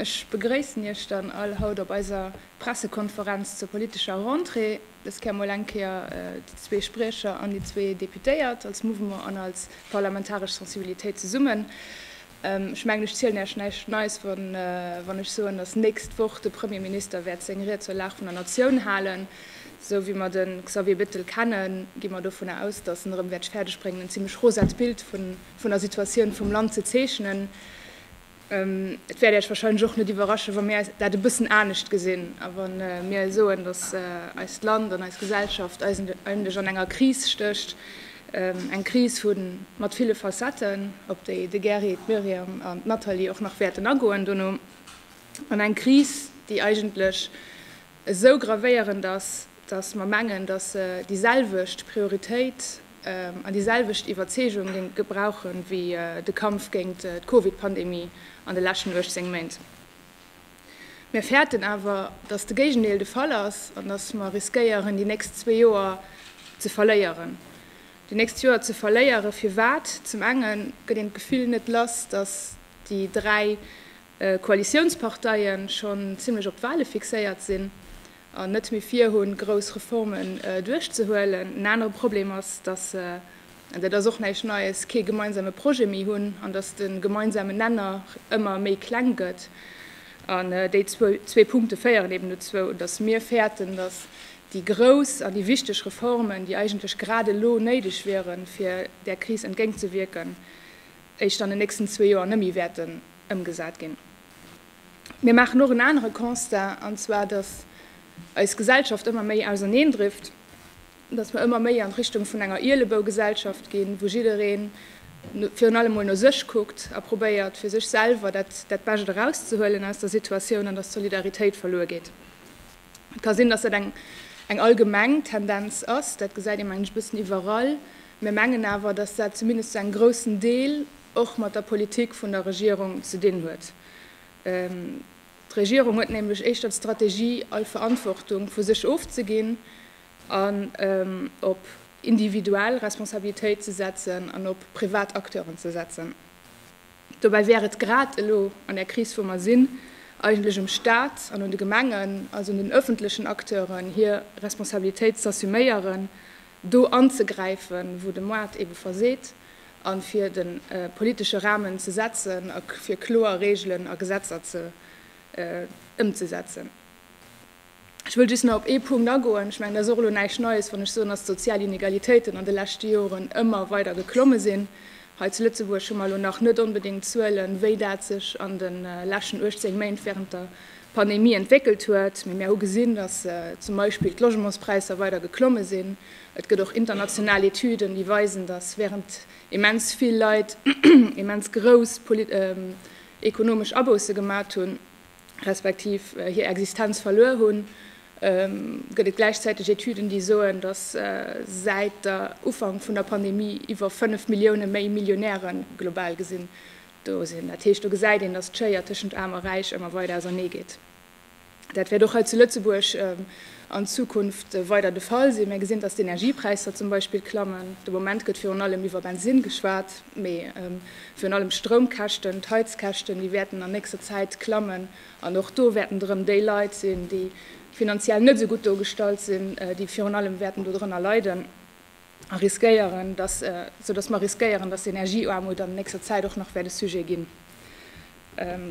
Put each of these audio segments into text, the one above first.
Ech begréissen Iech dann all haut op eiser Pressekonferenz zur politescher Rentrée. Dës Kéier mol eng Kéier déi zwee Spriecher an déi zwee Deputéiert als Mouvement an als parlamentaresch Sensibilitéit zesummen. Ech mengen, ech zielen Iech näischt Neies, wann ech soen, dass nächst Woch de Premierminister wäert seng Ried zur Lag vun der Natioun halen. Esou wéi mer de Xavier Bettel kennen, gi mer dovunner aus, dass en erëm wäert fäerdegbréngen, en zimlech rosat Bild vun der Situatioun vum Land ze zeechnen. Et wäert Äech wahrscheinlech och net iwwerraschen, wa mir dat e bëssen anescht gesinn a wa mir soen, dass eist Land an eis Gesellschaft eigentlech an enger Kris stécht, eng Kris mat ville Facetten, op déi de Gary, d'Myriam an d'Nathalie och nach wäerten agoen dono, an eng Kris, déi eigentlech esou gravéierend ass, dass mer mengen, dass se déi selwecht Prioritéit an déi selwecht Iwwerzeegung géinge brauche wéi de Kampf géint d'Covid-Pandemie an de leschten 18 Méint. Mir fäerten awer, dass de Géigendeel de Fall ass an dass mer riskéieren, déi nächst zwee Joer ze verléieren. Déi nächst Joer ze verléieren, firwat? Zum enge gëtt een d'Gefill net lass, dass déi dräi Koalitiounsparteie schonn zimlech op d'Wahle fixéiert sinn an net méi virhunn, grouss Reformen duerchzehuelen. En anere Problem ass, datt se, an dat ass och näischt Neies, kee gemeinsame Projet méi hunn an datt de gemeinsame Nenner ëmmer méi kleng gëtt. An déi zwee Punkte féieren eben dozou, datt mir fäerten, datt déi grouss an déi wichteg Reformen, déi eigentlech grad elo néideg wieren, fir där Kris entgéintzewierken, éischt an den nächsten zwee Joer net méi wäerten ëmgesat ginn. Mir maachen och en anere Constat, an zwar dass eis Gesellschaft ëmmer méi auserneendrifft, dass mer ëmmer méi an Richtung vun enger Ielebougesellschaft ginn, wou jidderee virun allem mol no sech kuckt a probéiert fir sech selwer dat dat Bescht erauszehuelen aus der Situatioun, an dass d'Solidaritéit verluer geet. Et ka sinn, dass dat eng eng allgemeng Tendenz ass, dat gesäit ee mengen ech e bëssen iwwerall, mir mengen awer, dass dat zumindest zu engem groussen Deel, och mat der Politik vun der Regierung ze dinn huet. D'Regierung huet nämlech éischter d'Strategie, all Verantwortung vu sech ofzeginn an op individuell Responsabilitéit ze setzen an op privat Acteuren ze setzen. Dobäi wär et grad elo an där Kris, wou mer sinn, eigentlech um Stat an un de Gemengen, also un den öffentlechen Acteuren, hir Responsabilitéit z'assuméieren, do anzegräifen, wou de Moart ebe verseet. a fir de politesche Rahmen ze setzen a fir kloer Regelen a Gesetzer ëmzesetzen. Ech wëll just nach op ee Punkt agoen. Ech mengen, et ass och elo näischt Neies, wann ech soen, dass d'sozial Inegalitéiten an de leschte Joren ëmmer weider geklomme sinn. Hei zu Lëtzebuerg hu mer elo nach net onbedéngt Zuelen, wéi dat sech an de leschten 18 Méint während der Pandemie entwéckelt huet, mee mir hu gesinn, dass zum Beispill d'Logementspräisser weider geklomme sinn Et gëtt och international Etüden, déi weisen, datt während immens vill Leit immens grouss ekonomesch Abousse gemat hunn, respektiv hir Existenz verluer hunn, gëtt et gläichzäiteg Etüden, déi soen, datt säit der Ufank vun der Pandemie iwwer 5 Millioune méi Millionäre global gesinn do sinn. Dat heescht, do gesäit een, datt d'Schéier tëschent Aarm a Räich ëmmer weider auserneegeet. Dat wäert och hei zu Lëtzebuerg an Zukunft weider de Fall sinn. Mä gesinn, datt d'Energiepräisser zum Beispill klammen. De Moment gëtt virun allem iwwer Bensinn geschwat, mee virun allem d'Stroumkäschten, d'Heizkäschten, déi wäerten an nächster Zäit klammen. An och do wäerten et erëm déi Leit sinn, déi finanziell net esou gutt do gestallt sinn, déi virun allem wäerten dodrënner leiden. a riskéieren, dass, sou dass mer riskéieren, dass Energieaarmut an nächster Zäit och nach wäert e Sujet ginn.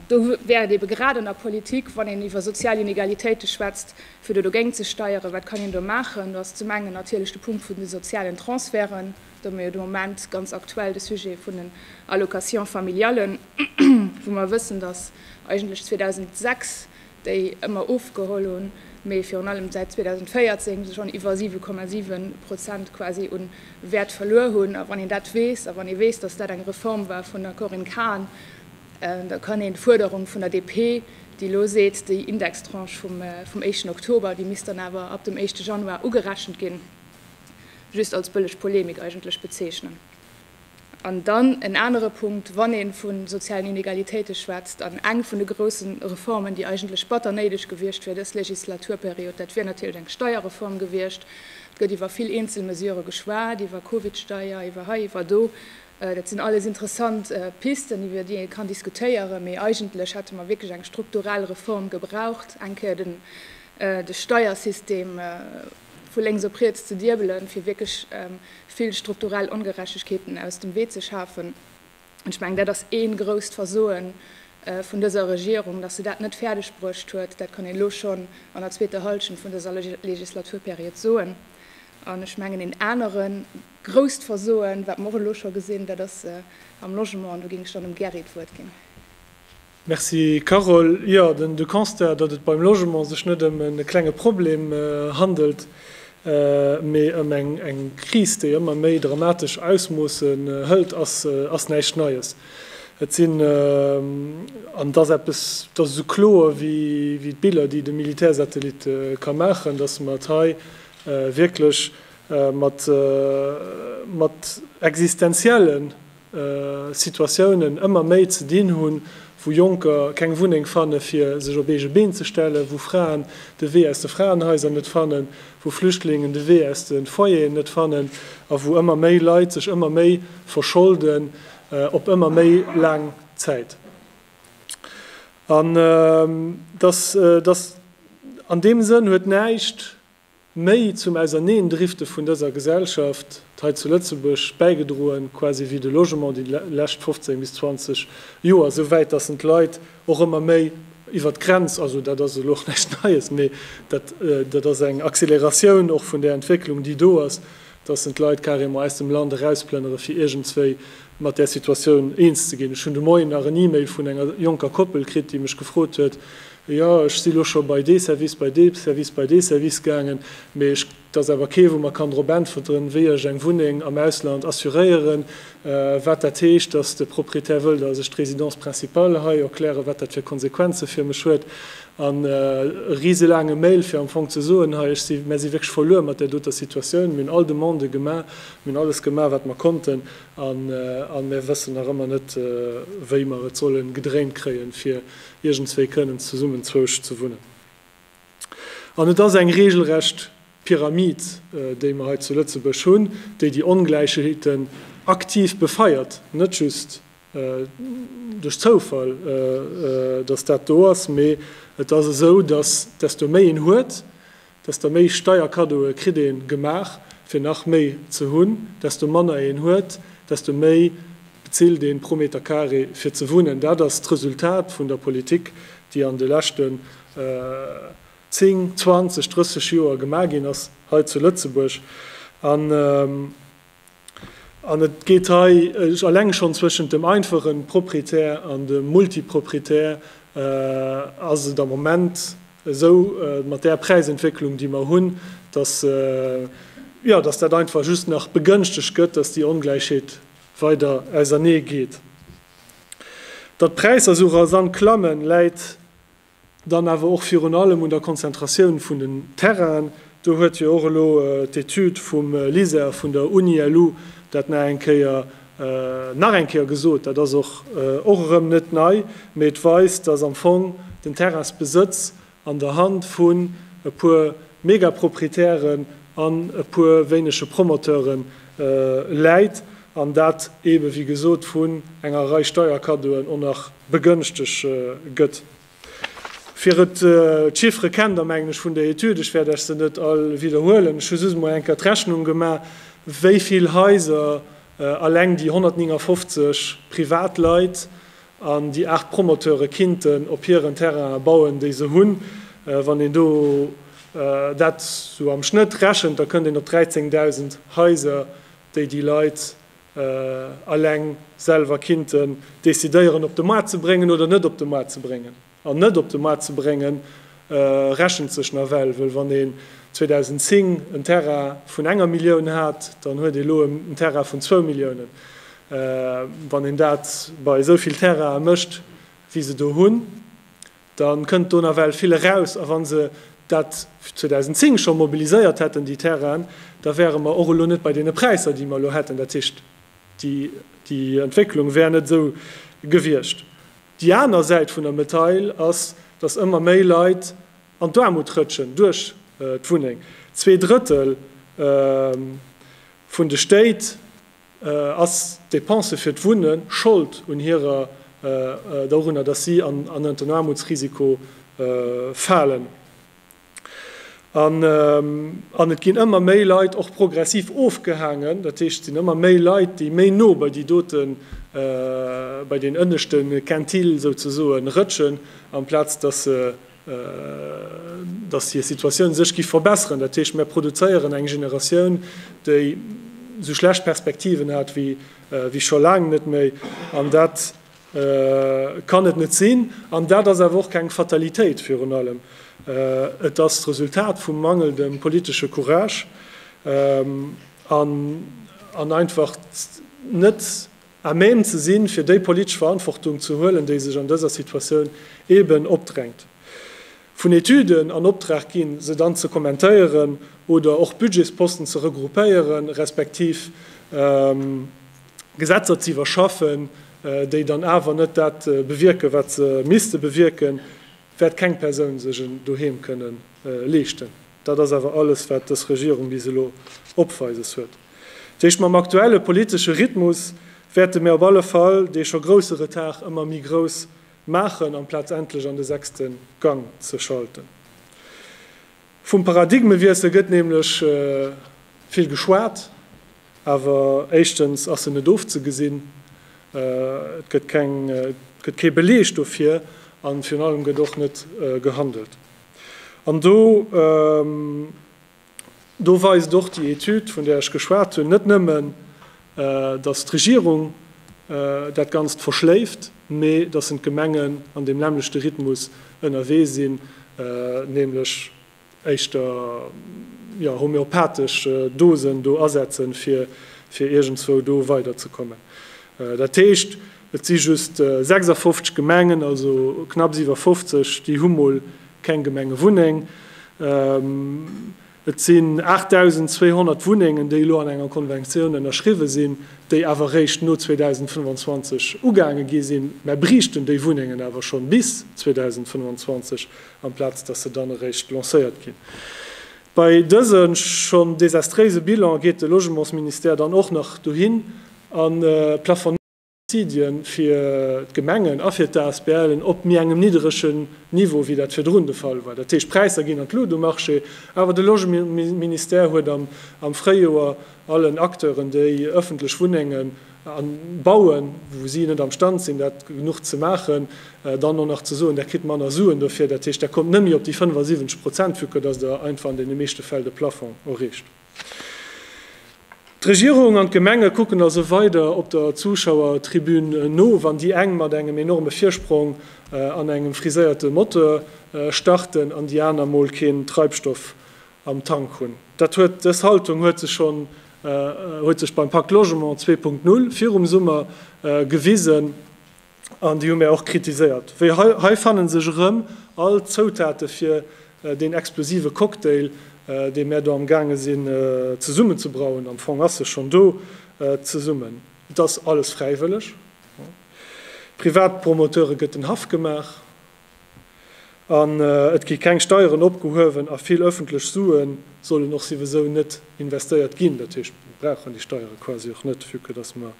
Do wär et eebe grad an der Politik, wann een iwwer sozial Inegalitéite schwätzt, fir do dogéint ze steieren. Wat kann een do maachen? Do ass zum engen natierlech de Punkt vun de sozialen Transferten. Do hu mir jo de Moment ganz aktuell de Sujet vun den Allocations familiales, wou mer wëssen, dass eigentlech 2006 déi ëmmer ofgeholl hunn, mee virun allem säit 2014 se schonn iwwer 7,7 Prozent quasi u Wäert verluer hunn. A wann een dat weess, a wann ee weess, datt dat eng Reform war vun der Corinne Cahen, da kann een d'Fuerderung vun der DP, déi elo seet, déi Indextranche vum éischten Oktober, déi misst dann awer ab dem éischte Januar ugerechent ginn, just als bëlleg Polemik eigentlech bezeechnen. An dann en anere Punkt, wann ee vu sozialen Inegalitéite schwätzt, an eng vun de grousse Reformen, déi eigentlech batter néideg gewiescht wier dës Legislaturperiod, dat wier natierlech eng Steierreform gewiescht. Et gëtt iwwer vill eenzel Mesurë geschwat, iwwer Covidsteier, iwwer hei, iwwer do. Dat sinn alles interessant Pisten, iwwer déi ee kann diskutéieren, mee eigentlech hätte mer wierklech eng strukturell Reform gebraucht, eng Kéier de Steiersystem vu lénks op riets ze diebelen, fir wierklech vill strukturell Ongerechtegkeeten aus dem Wee ze schafen. An ech mengen, dat ass ee grousst Versoe vun dëser Regierung, dass se dat net fäerdeg bruecht huet. Dat kann een elo schonn an der zweeter Hallschent vun dëser Legislaturperiod soen. An ech mengen, een anere grousst Versoe, wat mer och elo scho gesinn, dat ass am Logement. An do géing ech dann dem Gerri d'Wuert ginn. Merci Carole. Jo, de Constat, datt et beim Logement sech net ëm e klenge Problem handelt, mee ëm eng Kris, déi ëmmer méi dramatesch Ausmoosse hëlt, ass näischt Neies. Et sinn, an et ass eppes, et ass esou kloer wéi d'Biller, déi de Militärsatellit ka maachen, datt mer et hei wierklech mat existenziellen Situatiounen ëmmer méi ze dinn hunn, wou Jonker keng Wunneng fanne fir sech op eege Been ze stellen, wou Fraen de Wee aus de Fraenhaiser net fannen, wou Flüchtlingen de Wee aus de Foyeren net fannen a wou ëmmer méi Leit sech ëmmer méi verscholden op ëmmer méi laang Zäit. An an deem Sënn huet näischt méi zum Auserneendrifte vun dëser Gesellschaft hei zu Lëtzebuerg bäigedroen, quasi wéi de Logement déi lescht 15 bis 20 Joer, esou wäit datt en d'Leit och ëmmer méi iwwert d'Grenz, also dat ass elo och näischt Neies, mee dat ass eng Acceleratioun och vun där Entwécklung déi do ass, dass en d'Leit carrément aus dem Land erausplënnere fir iergendswéi mat där Situatioun eens ze ginn. Ech hunn de Moien nach en E-Mail vun enger jonker Koppel kritt, déi mech gefrot huet, Jo, ech si lo scho bei dee Service, bei dee Service, bei dee Service gaangen, mee ech, et ass awer kee wou mer kann drop äntwerten, wéi ech eng Wunneng am Ausland assuréieren, wat dat heescht, dass de Proprietär wëll, dass ech d'Résidence principale hei erklären, wat dat fir Konsequenze fir mech huet. An e riselaange Mail, fir am Fong ze soen, hei, ech si, mär si wierklech verluer mat där doter Situatioun. Mir hunn all Demandë gemaach, mir hunn alles gemaach, wat mer konnten, a mär wëssen nach ëmmer net, wéi mer et solle gedréint kréien, fir iergendswéi kënnen zesummen zwousch ze wunnen. An et ass eng regelrecht Pyramid, déi mer hei zu Lëtzebuerg hunn, déi déi Ongläichheeten aktiv befeiert, net just, duerch Zoufall, dass dat do ass, mee et ass esou, dass desto méi een huet, desto méi Steierkaddoe kritt ee gemaach, fir nach méi ze hunn, desto manner een huet, desto méi bezilt ee pro Meter carré, fir ze wunnen. Dat ass d'Resultat vun der Politik, déi an de leschten zéng, zwanzeg, drësseg Joer gemaach ginn ass hei zu Lëtzebuerg. An et geet hei eleng schonn zwëschent dem einfache Proprietär an dem Multiproprietär, ass et am Moment esou mat där Präisentwécklung, déi mer hunn, dass, jo, dass dat einfach just nach begënschtegt gëtt, dass déi Ongläichheet weider ausernee geet. Datt d'Präisser esou rasant klammen, läit, Dann awer och virun allem un der Konzentratioun vun den Terrainen. Do huet jo och elo d'Etüd vum LISER vun der Uni-LU dat nach eng Kéier, nach eng Kéier gesot. Dat ass och, och erëm net nei, mee et weist, dass am Fong den Terrainsbesëtz an der Hand vun e puer Megaproprietären an e puer wéinege Promoteure läit an dat eebe wéi gesot vun enger Rei Steierkaddoen och nach begënschtegt gëtt. Fir et, d'Chiffere kennt der mengen ech vun der Etüd, ech wäert lech se net all widderhuelen, ech hu just emol eng Kéier d'Rechnung gemaach, wéi vill Haiser alleng déi 159 Privatleit an déi 8 Promoteure kinnten op hiren Terrainen bauen, déi se hunn. Wann een do dat esou am Schnëtt rechent, da kënnt een op 13.000 Haiser, déi déi Leit eleng selwer kinnten decidéieren op de Maart ze bréngen oder net op de Maart ze bréngen. An net op de Maart ze brénge rechent sech nawell, wëll wann een 2010 en Terrain vun enger Millioun hat, dann huet ee lo en Terrain vun zwou Milliounen. Wann een dat bei esou vill Terrainen mécht wéi se do hunn, Da kënnt do nawell vill eraus. A wa se dat 2010 scho mobiliséiert hätten, déi Terrainen, da wäere mer och elo net bei deene Präisser, déi mer elo hätten. Dat heescht, déi Entwécklung wär net esou gewiescht. Déi aner Säit vun der Medail ass, datt ëmmer méi Leit an d'Aarmut rëtschen duerch d'Wunneng. Zwee Drëttel vun de Stéit Ass d'Depensë fir d'Wunne Schold un hirer, dorunner, datt si an den Aarmutsrisiko falen? An et ginn ëmmer méi Leit och progressiv ofgehaangen, dat heescht, et sinn ëmmer méi Leit, déi méi no bei déi doten, bei deen ënneschte Quintile souzesoen rëtschen, amplaz datt se dass hir Situatioun sech giff verbesseren, dat heescht mär produzéieren eng Generatioun, déi sou schlecht Perspektiven hat wéi scho laang net méi. An dat kann et net sinn. An dat ass awer och keng Fatalitéit. Virun allem et ass d'Resultat vum mangelndem politesche Courage an einfach net à même ze sinn, fir déi politesch Verantwortung ze huelen, déi sech an dëser Situatioun eeben opdrängt. Vun Etüden an Optrag ginn, se dann ze kommentéieren oder och Budgetsposten ze regroupéieren, respektiv Gesetzer ze iwwerschaffen, déi dann awer net dat bewierken, wat se misste bewierken, wäert keng Persoun sech en Doheem kënnen leeschten. Dat ass awer alles, wat dës Regierung bis elo opweises huet. D'Héicht mam aktuelle politesche Rhythmus wäerte mir op alle Fall dee scho grousse Retard ëmmer méi grouss maachen, amplaz endlech an de sechste Gang ze schalten. Vum Paradigmewiessel gëtt nämlech vill geschwat, awer éischtens ass en net ofzegesinn, et gëtt keng, et gëtt kee Beleg dofir, an virun allem gëtt och net gehandelt. An do, do weist och déi Etüd, vun där ech geschwat hunn, net nëmmen, datt d'Regierung dat Ganzt verschléift, mee datt en d'Gemengen an deem nämmlechte Rhythmus ënnerwee sinn, nämlech éischter, jo, homeopathesch Dosen do asetzen, fir, fir iergendzwou do weiderzekommen. Dat heescht, Et si just 56 Gemengen, also knapps iwwer 50, déi hu mol keng Gemengewunneng. Et sinn 8.200 Wunnengen, déi elo an enger Konventioun ënnerschriwwen sinn, déi awer réischt no 2025 ugaange gi sinn. Mär briichten déi Wunnengen awer schonn bis 2025, amplaz dass se dann eréischt lancéiert ginn. Bei dëse schonn desastréise Bilan geet de Logementsministère dann och nach dohin a plafonnéiert. Subsidien fir d'Gemengen a fir d'ASBLen op méi engem nidderegen Niveau, wéi dat virdrun de Fall war. Dat heescht, d'Präisser ginn an d'Lut um Marché, awer de Logementsministère huet am Fréijoer allen Acteuren, déi ëffentlech Wunnengen bauen, wou si net am Stand sinn, dat genuch ze maachen, dann och nach ze soen, Där kritt manner Suen dofir. Dat heescht, Der kommt net méi op déi 75 Prozent, vue que dass Der einfach an deene meeschte Fäll de Plafond erreecht. D'Regierung an d'Gemenge kucken also weider op der Zuschauertribün no, wann déi eng mat engem enorme Virsprong an engem friséierte Motor starten an déi aner mol keen Treibstoff am Tank hunn. Dat huet dës Haltung huet sech schonn huet sech beim Pakt Logement zwee Punkt Null virum Summer gewisen. An déi hu mär och kritiséiert. Wéi hei, hei fanne sech erëm all d'Zoutate fir deen explosive Cocktail, dee mär do amgaange sinn zesummen ze brauen. Am Fong ass e schonn do zesummen. Et ass alles fräiwëlleg. Privatpromoteure gëtt den Haff gemaach. An et gi keng Steieren opgehuewen a vill ëffentlech Sue sollen och souwisou net investéiert ginn. Dat heescht, mir brauchen déi Steiere quasi och net, vue que dass mer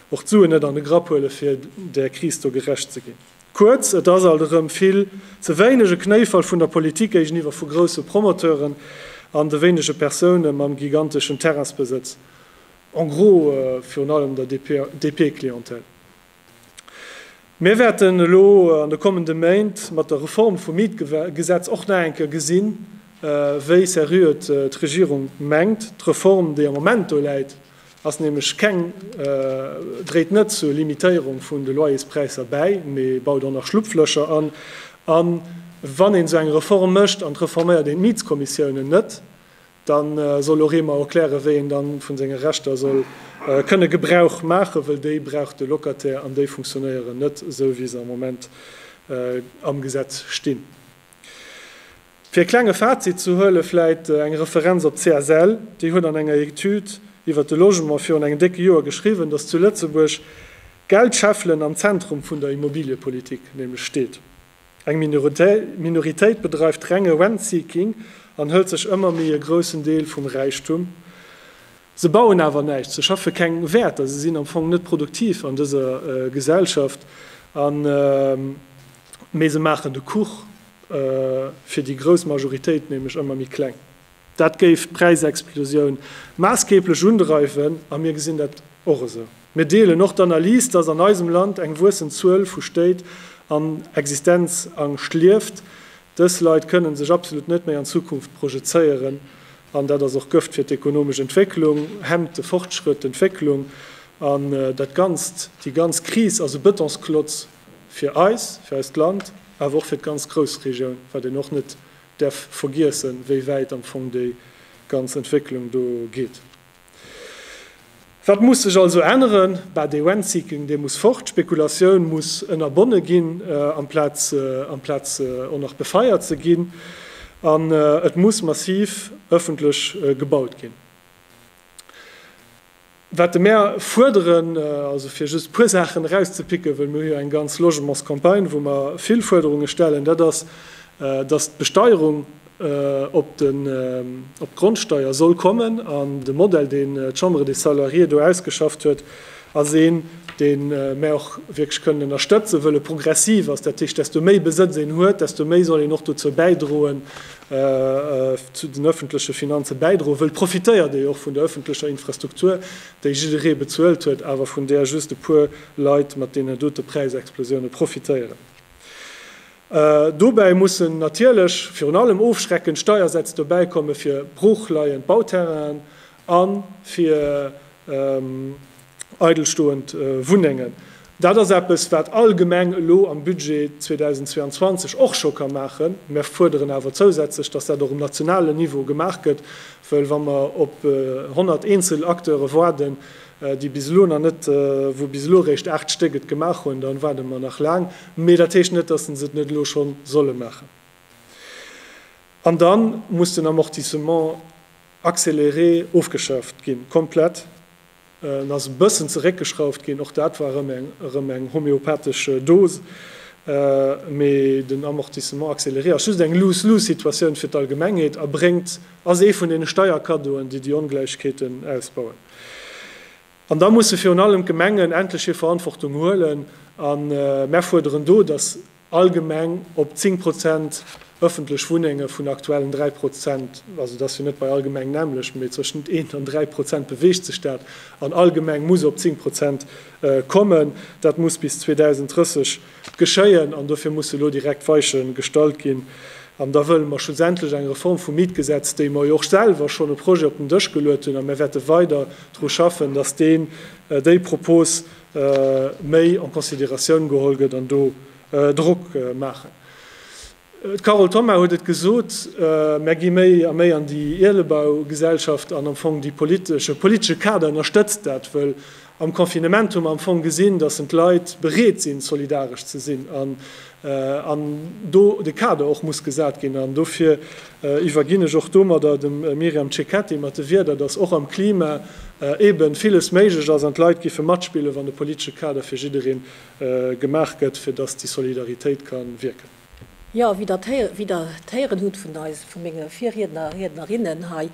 och d'Suen net an de Grapp huelen, fir där Kris do gerecht ze ginn. Kuerz, et ass alt erëm vill ze wéineg e Knéifall vun der Politik géigeniwwer vu grousse Promoteuren an de wéinege Persoune mam giganteschen Terrainsbesëtz, en gros virun allem der DP-Clientèle. Mir wäerten elo an de kommende Méint mat der Reform vum Mietgesetz och nach eng Kéier gesinn, wéi seriö d'Regierung mengt, d'Reform, déi am Moment do läit, ass nämlech keng, dréit net zur Limitéierung vun de Loyerspräisser bäi, mee baut och nach Schlupflöcher an. A wann een esou eng Reform mécht an et reforméiert een d'Mietskommissiounen net, Da soll och ee mer erklären, wéi een da vu senge Rechter soll kënne Gebrauch maachen, wëll déi brauch de Locataire an déi funktionéieren net esou, wéi se am Moment am Gesetz stinn. Fir e klenge Fazit ze huelen, vläit eng Referenz op d'CSL. Déi huet an enger Etüd iwwert de Logement virun engem décke Joer geschriwwen, dass zu Lëtzebuerg d'Geldscheffelen am Zentrum vun der Immobiliepolitik nämlech steet. Eng Minoritéit bedreift renge Rentseeking an hëlt sech ëmmer méi e groussen Deel vum Räichtum. Se bauen awer näischt, se schaffe keng Wäerter, se sinn am Fong net produktiv an dëser Gesellschaft, mee se maachen de Kuch fir déi grouss Majoritéit nämlech ëmmer méi kleng. Dat géif d'Präisexplosioun maassgeeblech undreiwen a mir gesinn dat och esou. Mir deelen och d'Analys, dass an eisem Land eng wuessend Zuel vu Stéit an Existenzangscht lieft. Dës Leit kënnen sech absolut net méi an d'Zukunft projezéieren an dat ass och Gëft fir d'ekonomesch Entwécklung, hemmt de Fortschrëtt, d'Entwécklung an dat Ganzt. Déi ganz Kris ass e Bëtonsklotz fir eis, fir eist Land, awer och fir d'ganz Groussregioun, wat een och net däerf vergiessen, wéi wäit am Fong déi ganz Entwécklung do geet. Wat muss sech also änneren? Bah, dee Rentseeking, dee muss fort. D'Spekulatioun muss ënnerbonne ginn, amplaz amplaz och nach befeiert ze ginn. An et muss massiv ëffentlech gebaut ginn. Wat mer fuerderen, also fir just e puer Saachen erauszepicken, well mir hu jo eng ganz Logementscampagne, wou mer vill Fuerderunge stellen, dat ass, dass d'Besteierung op d'Grondsteier soll kommen. An de Modell, deen d'Chambre des Salariés do ausgeschafft huet, ass een, dee mer och wierklech kënnen ënnerstëtzen, wëll e progressiv ass. Dat heescht, desto méi Besëtz een huet, desto méi soll een och dozou bäidroen, zu den ëffentleche Finanze bäidroen wëllt, profitéiert ee jo och vun der ëffentlecher Infrastruktur, déi jidderee bezuelt huet, awer vun där just e puer Leit mat deenen dote Präisexplosioune profitéieren. Dobäi mussen natierlech virun allem ofschreckend Steiersätz dobäi komme fir broochleiend Bauterrainen a fir eidelstoend Wunnengen. Dat ass eppes, wat all Gemeng elo am Budget 2022 och scho ka maachen. Mer fuerderen awer zousätzlech, dass dat och um nationalen Niveau gemaach gëtt, well wa mer op 100 eenzel Acteure waarden, déi bis elo nach net, wou bis elo réischt 8 Stéck et gemaach hunn, da waarde mer nach laang. Mee dat heescht net, dass se et net elo schonn solle maachen. An da muss den Amortissement. Accéléré ofgeschaaft ginn, komplett. En ass e bëssen zeréckgeschrauft ginn, och dat war erëm eng homeopathesch Dose, mee den Amortissement accéléré ass just eng lose-lose Situatioun fir d'Allgemengheet a bréngt, ass ee vun deene Steierkaddoen, déi déi Ongläichkeeten ausbauen. An da musse virun allem d'Gemengen endlech hir Verantwortung huelen a mär fuerderen do, dass Allgemeng op 10 Prozent ëffentlech Wunnenge vun aktuellen 3 Prozent, also et ass jo net bei allgemeng nämmlecht, mee tëschent eent an dräi Prozent beweegt sech dat, an allgemeng muss op 10 Prozent kommen. Dat muss bis 2030 geschéien an dofir musse elo direkt Weiche gestallt ginn. An da wëlle mer schlussendlech eng Reform vum Mietgesetz, déi mer jo och selwer schonn e Projet op den Dësch geluet hunn, a mir wäerte weider dru schaffen, datt deen, déi Propos méi en considératioun geholl gëtt an do Drock maachen. D'Carole Thoma huet et gesot, Mär gi méi a méi an déi Ielebaugesellschaft an am Fong de politesche Kader ënnerstëtzt dat, wëll am Confinement hu mer am Fong gesinn, datt en d'Leit bereet sinn, solidaresch ze sinn. an do de Kader och muss gesat ginn. An dofir iwwerginn ech och domadder dem Myriam Cecchetti mat de Wierder, dass och am Klima eeben villes méiglech ass an d'Leit giffe matspillen, wann de politesche Kader fir jiddereen gemaach gëtt, fir dass déi Solidaritéit ka wierken. Jo, wéi Der d'héieren hutt vun eis, vu menge Virriedner a Riednerinnen hei,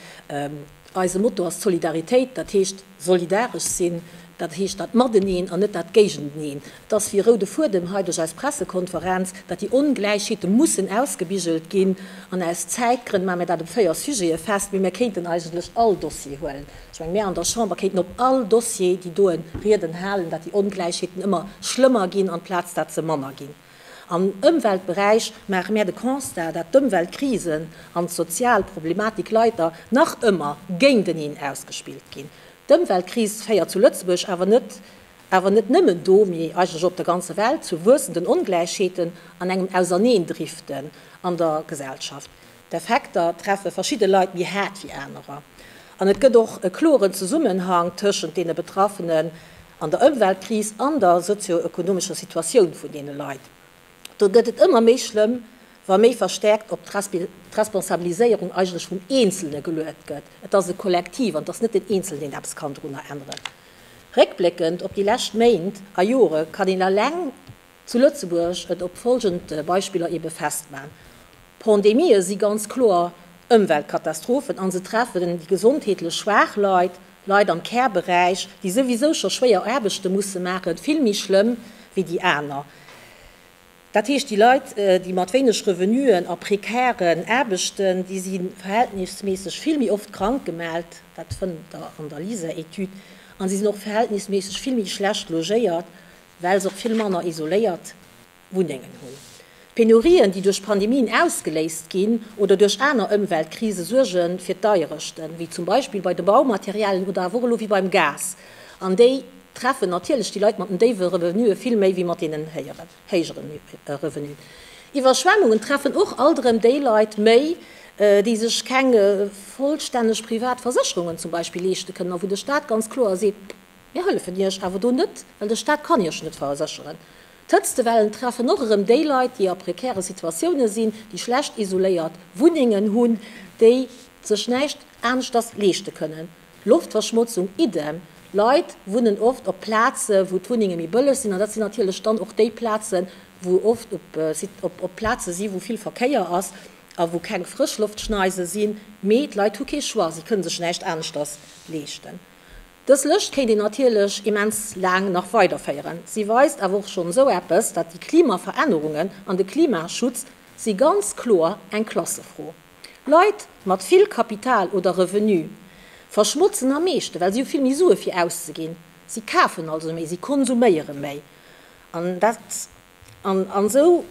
Eise Motto ass d'Solidaritéit, dat heescht solidaresch sinn, dat heescht dat Mateneen an net dat Géigenteneen. Et ass wéi e roude Fuedem hei duerch eis Pressekonferenz, datt déi Ongläichheete mussen ausgebigelt ginn. An aus Zäitgrënn maache mir dat op véier Sujete fest, mee mir kéinten eigentlech all Dossier huelen. Ech menge mir an der Chamber kéinten op all Dossier déi doe Rieden halen, datt déi Ongläichheeten ëmmer schlëmmer ginn amplaz dat se manner ginn. Am Ëmweltberäich maache mär de Constat, dat d'Ëmweltkrisen an d'sozial Problematik leider nach ëmmer géinteneen ausgespillt ginn. D'Ëmweltkris féiert zu Lëtzebuerg awer net, awer net nëmmen do, mee eigentlech op der ganzer Welt, zu wuessenden Ongläichheeten an engem Auserneendriften an der Gesellschaft. D'Effekter treffe verschidde Leit méi haart wéi anerer. An et gëtt och e kloren Zesummenhang tëschent deene Betraffenen an der Ëmweltkris an der sozio-ökonomescher Situatioun vun deene Leit. Do gëtt et ëmmer méi schlëmm, wa méi verstäerkt op d'Responsabiliséierung eigentlech vum Eenzelne geluet gëtt. Et ass e Kollektiv an et ass net den Eenzelnen, deen eppes kann dorunner änneren. Réckbléckend op déi lescht Méint a Jore kann een eleng Zu Lëtzebuerg et op folgend Beispiller eebe festman, Pandemië si ganz kloer Ëmweltkatastrophen a se treffen déi gesondheetlech schwaach Leit, Leit am Care-Beräich, déi souwisou scho schwéier Aarbechte musse maachen, vill méi schlëmm wéi déi aner. Dat heescht, déi Leit, déi mat wéineg Revenuen a prekären Aarbechten, déi si verhältnisméisseg vill méi oft krank gemellt, dat fënnt Der an der LISER-Etüd, a si sinn och verhältnisméisseg vill méi schlecht logéiert. well se och vill manner isoléiert Wunnengen hunn. D'Penurien, déi duerch Pandemien ausgeléist ginn oder duerch aner Ëmweltkrise suerge fir d'Deierechten, wéi zum Beispill bei de Baumaterialien oder awer och elo wéi beim Gas, an déi treffen natierlech déi Leit mat den déiwe Revenuen vill méi wéi mat deenen héijeren Revenuen. Iwwerschwemmungen treffen och alt erëm déi Leit méi, déi sech keng vollstänneg privat Versécherungen zum Beispill leeschte kënnen a wou de Staat ganz kloer seet, Mir hëllefen Iech awer do net, well de Staat kann Iech net versécheren. D'Hëtztewellen treffen och erëm déi Leit, déi a prekäre Situatiounen sinn, déi schlecht isoléiert Wunnengen hunn, déi sech näischt aneschters leeschte kënnen. Loftverschmotzung idem. Leit wunnen oft op Plaze wou d'Wunnenge méi bëlleg sinn an dat sinn natierlech dann och déi Plazen, wou oft op Plaze si wou vill Verkéier ass a wou keng Frëschloftschneise sinn. Mee d'Leit hu kee Choix, si kënne sech näischt aneschters leeschten. Dës Lëscht kéint een natierlech immens laang nach weiderféieren. Si weist awer och schonn esou eppes, datt déi Klimaverännerungen an de Klimaschutz si ganz kloer eng Klassefro. Leit mat vill Kapital oder Revenu verschmotzen am meeschte well si hu vill méi Sue fir auszeginn. Si kafen also méi, si konsuméiere méi an dat an esou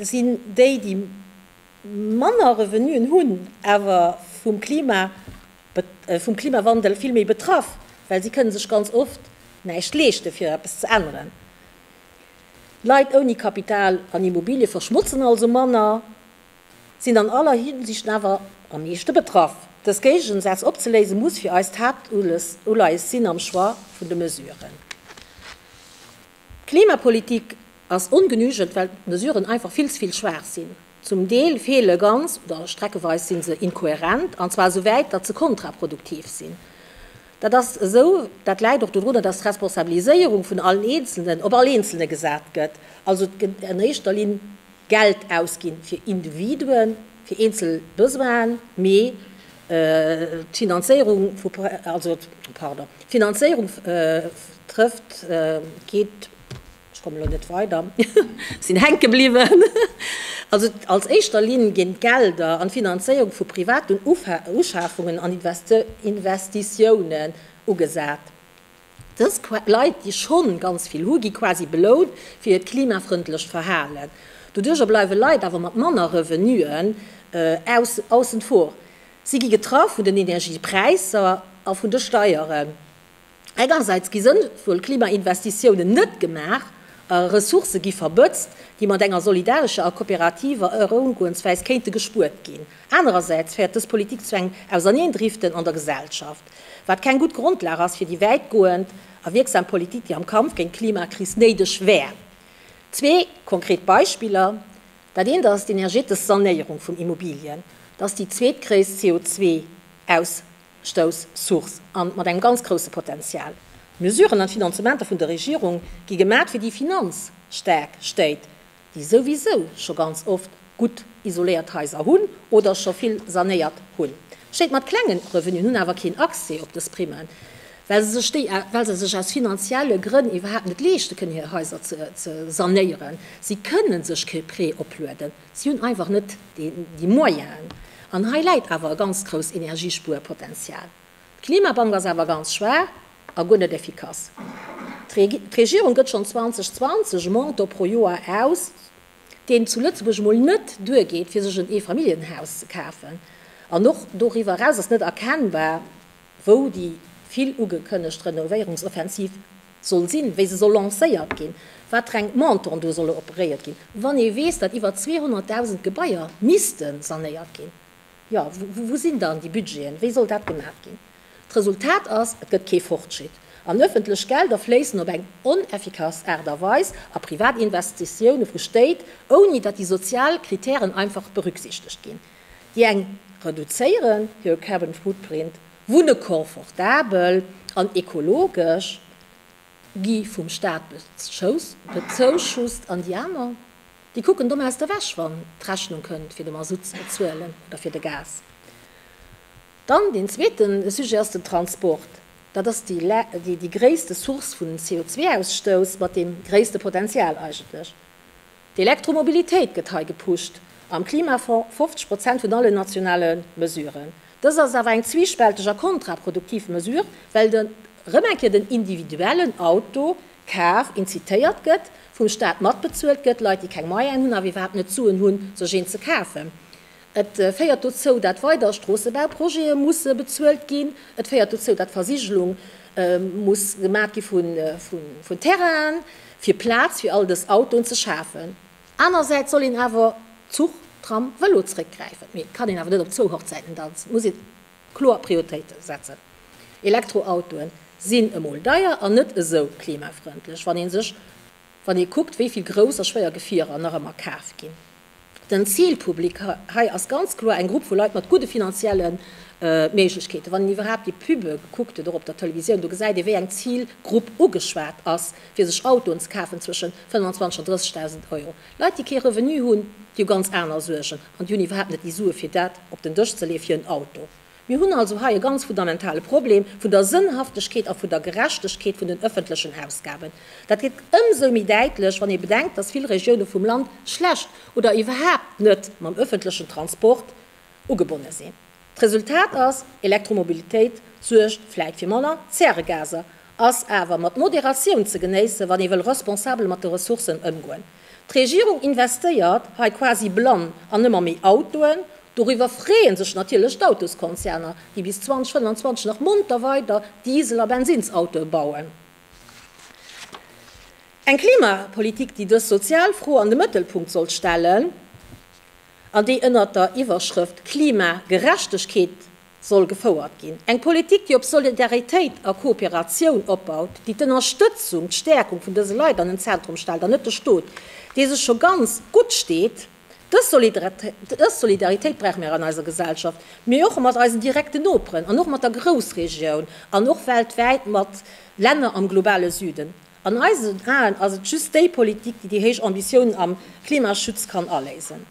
sinn déi, déi. manner Revenuen hunn, awer vum Klima, vum Klimawandel vill méi betraff, well si kënne sech ganz oft näischt leeschte fir eppes ze änneren. Leit ouni Kapital an Immobilie verschmotzen also manner, sinn an aller Hinsicht awer am meeschte betraff. Dës Géigesätz opzeléise muss fir eis d'Haaptuleies sinn am Choix vun de Mesuren. D'Klimapolitik ass ongenügend, well d'Mesuren einfach vill ze vill schwaach sinn. Zum Deel feele ganz oder streckeweis si se inkohärent, an zwar esou wäit, datt se kontraproduktiv sinn. Dat ass esou, dat läit och dorunner, datt d'Responsabiliséierung vun allen Eenzelnen op all Eenzelne gesat gëtt, also et gëtt an éischter Linn, Geld ausginn fir Individuen, fir eenzel Besoinen, mee d'Finanzéierung vu, also, pardon, d'Finanzéierung trëfft, geet, ech komme elo net weider, sinn hänke bliwwen, also als éischter Linn ginn d'Gelder an d'Finanzéierung vu privaten Uschafungen an Investitiounen ugesat. Dës Leit, déi schonn ganz vill hu gi quasi belount fir hiert klimafrëndlecht Verhalen. Doduerjer bleiwe Leit awer mat manner Revenuen aussen vor. Si gi getraff vun den Energiepräisser a vun de Steieren. Engersäits gi sënnvoll Klimainvestitiounen net gemaach a Ressourcë gi verbëtzt, déi mat enger solidarescher a kooperativer Erëungoensweis kéinte gespuert ginn. Anerersäits féiert dës Politik zu engem Auserneendriften an der Gesellschaft. Wat keng gutt Grondlag ass fir déi wäitgoend a wierksam Politik, déi am Kampf géint d'Klimakris néideg wär. Zwee konkret Beispiller, Dat eent ass d'energetesch Sanéierung vun Immobilien. Dat ass déi zweetgréisst CO2-Ausstouss-Source a mat engem ganz grousse Potenzial. D'Mesuren an d'Finanzementer vun der Regierung gi gemat, fir déi finanzstaark Stéit déi souwisou scho ganz oft gutt isoléiert Haiser hunn oder scho vill sanéiert hunn. Stéit mat klengen Revenuen hunn awer keen Accès op dës Primen, well se sech déi, well se sech aus finanzielle Grënn iwwerhaapt net leeschte kënnen hir Haiser ze sanéieren. Si kënne sech kee Prêt oplueden, si hunn einfach net déi Moyenen. An hei läit awer e ganz grouss Energiespuerpotenzial. D'Klimabank ass awer ganz schwaach a guer net effikass. D'Regierung gëtt schonn 2020 e Montant pro Joer aus, deen zu Lëtzebuerg mol net duergeet fir sech en Eefamilljenhaus ze kafen. An och doriwwer eraus ass net erkennbar, wou déi vill ugekënnegt Renovéierungsoffensiv soll sinn, wéi se soll lancéiert ginn, watreng Montanten do solle operéiert ginn, wann ee weess, datt iwwer 200.000 Gebaier misste sanéiert ginn. Jo, wou sinn dann déi Budgeten? Wéi soll dat gemaach ginn? D'Resultat ass, et gëtt kee Fortschritt. An ëffentlech Gelder fléissen op eng oneffikass Aart a Weis a privat Investitioune vu Stéit, ouni datt déi sozial Kritären einfach berücksichtegt ginn, déi eng reduzéieren hir carbon footprint, wunne confortabel an ekologesch, gi vum Staat bezuschusst, an déi aner. Déi kucken domm aus der Wäsch wann d'Rechnung kënnt fir de Masutt ze bezuelen oder fir de Gas. Dann deen zweete Sujet ass den Transport. Dat ass déi gréisste Source vun CO2-Ausstouss mat deem gréisste Potenzial eigentlech. D'Elektromobilitéit gëtt hei gepusht, am Klimafonds 50 Prozent vun allen nationale Mesuren. Dëst ass awer eng zwiispälteg a kontraproduktiv Mesure, well et erëm eng Kéier den individuellen Auto Kar incitéiert gëtt, vum Staat matbezuelt gëtt, Leit déi keng Moyene hunn, awer iwwerhaapt net d'Suen hunn, sech een ze kafen. Et féiert dozou, dat weider Stroossebauprojete musse bezuelt ginn. Et féiert dozou, dat Versigelung muss gemat gi vun Terrainen, fir Plaz fir all dës Autoen ze schafen. Anersäits soll een awer Zuch, Tram, Vëlo zréckgräifen. Mee et kann een awer net op zwou Hochzäiten danzen. Et muss een. Kloer Prioritéite setzen. Elektroautoen sinn emol deier an net esou klimafrëndlech, wann ee sech wann ee kuckt, wéi vill grouss a schwéier Gefierer nach ëmmer kaf ginn. Den Zilpublic hei ass ganz kloer eng Grupp vu Leit mat gudde finanzielle Méiglechkeeten. Wann een iwwerhaapt déi Pube gekuckt huet, och op der Televisioun, do gesäit ee, wéi eng Zilgrupp ugeschwat ass, fir sech Autoen ze kafen, zwëschen 25 an 30.000 Euro. Leit déi kee Revenu hunn, déi hu ganz aner Suergen an déi hunn iwwerhaapt net déi Sue fir dat op den Dësch ze leeë fir en Auto. Mir hunn also hei e ganz fundamentale Problem vun der Sënnhaftegkeet a vun der Gerechtegkeet vun den ëffentlechen Ausgaben. Dat gëtt ëmsou méi däitlech, wann ee bedenkt, datt vill Regioune vum Land schlecht oder iwwerhaapt net mam ëffentlechen Transport ugebonne sinn. D'Resultat ass, Elektromobilitéit suergt vläit fir manner Zäregaser, ass awer mat Moderatioun ze genéissen, wann ee wëll responsabel mat de Ressourcen ëmgoen. D'Regierung investéiert hei quasi blann an ëmmer méi Autoen. Doriwwer freeë sech natierlech d'Autoskonzerner, déi bis 2025 nach monter weider Diesel a Bensinnsautoe bauen. Eng Klimapolitik, déi dës sozial Fro an de Mëttelpunkt sollt stellen. an déi ënnert der Iwwerschrëft Klimagerechtegkeet soll gefouert ginn. Eng Politik, déi op Solidaritéit a Kooperatioun opbaut, déi d'Ënnerstëtzung, d'Stäerkung vun dëse Leit an den Zentrum stellt an net de Stot, dee sech scho ganz gutt steet. Dës Solidaritéit brauche mir an eiser Gesellschaft, mee och mat eisen direkten Noperen an och mat der Groussregioun an och weltwäit mat Länner am globale Süden. An eisen Aen ass et just déi Politik, déi déi héich Ambitiounen am Klimaschutz kann aléisen.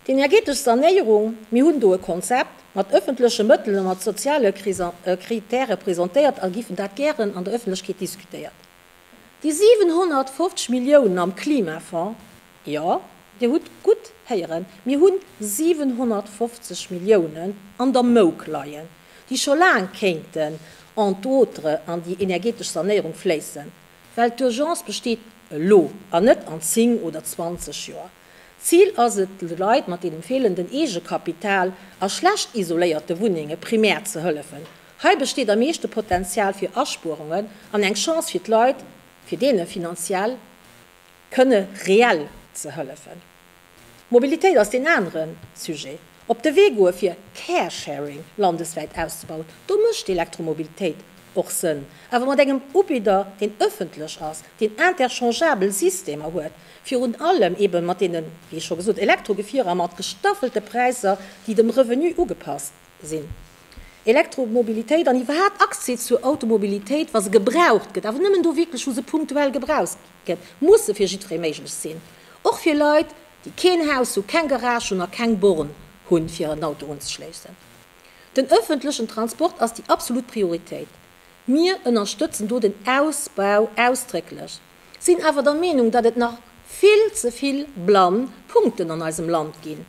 D'energetesch Sanéierung, mir hunn do e Konzept mat ëffentleche Mëttel a mat soziale Kritäre presentéiert a giffen dat gären an der Ëffentlechkeet diskutéiert. Déi 750 Milliounen am Klimafonds, Jo, Dir hutt gutt héieren, mir hu 750 Milliounen an der Mouk leien, déi scho laang kéinten entre autres an déi energetesch Sanéierung fléissen, well d'Urgence besteet elo an net an zéng oder zwanzeg Joer. D'Zil ass et, de Leit mat deem feelenden Eegekapital a schlecht isoléierte Wunnenge primär ze hëllefen. Hei besteet am meeschte Potenzial fir Aspuerungen an eng Chance fir d'Leit, fir deene finanziell. kënne reell ze hëllefen. D'Mobilitéit ass deen anere Sujet. Op de Wee goe fir Caresharing landeswäit auszebauen. Do mécht d'Elektromobilitéit och Sënn, awer mat engem Ubidder, deen ëffentlech ass, deen interchangeabel Systemer huet, virun allem ebe mat deene, wéi scho gesot, Elektrogefierer mat gestaffelte Präisser, déi dem Revenu ugepasst. sinn, Elektromobilitéit an iwwerhaapt Accès zur Automobilitéit, wa se gebraucht gëtt, awer nëmmen do wierklech, wou se punktuell gebraucht gëtt, musse fir jiddweree méiglech sinn, och fir Leit, déi keen Haus hu, keng Garage hunn a keng Born hunn, fir en Auto unzeschléissen. Den ëffentlechen Transport ass déi absolut Prioritéit. Mir ënnerstëtzen do den Ausbau ausdrécklech, sinn awer der Meenung, datt et nach vill ze vill blann Punkten an eisem Land ginn,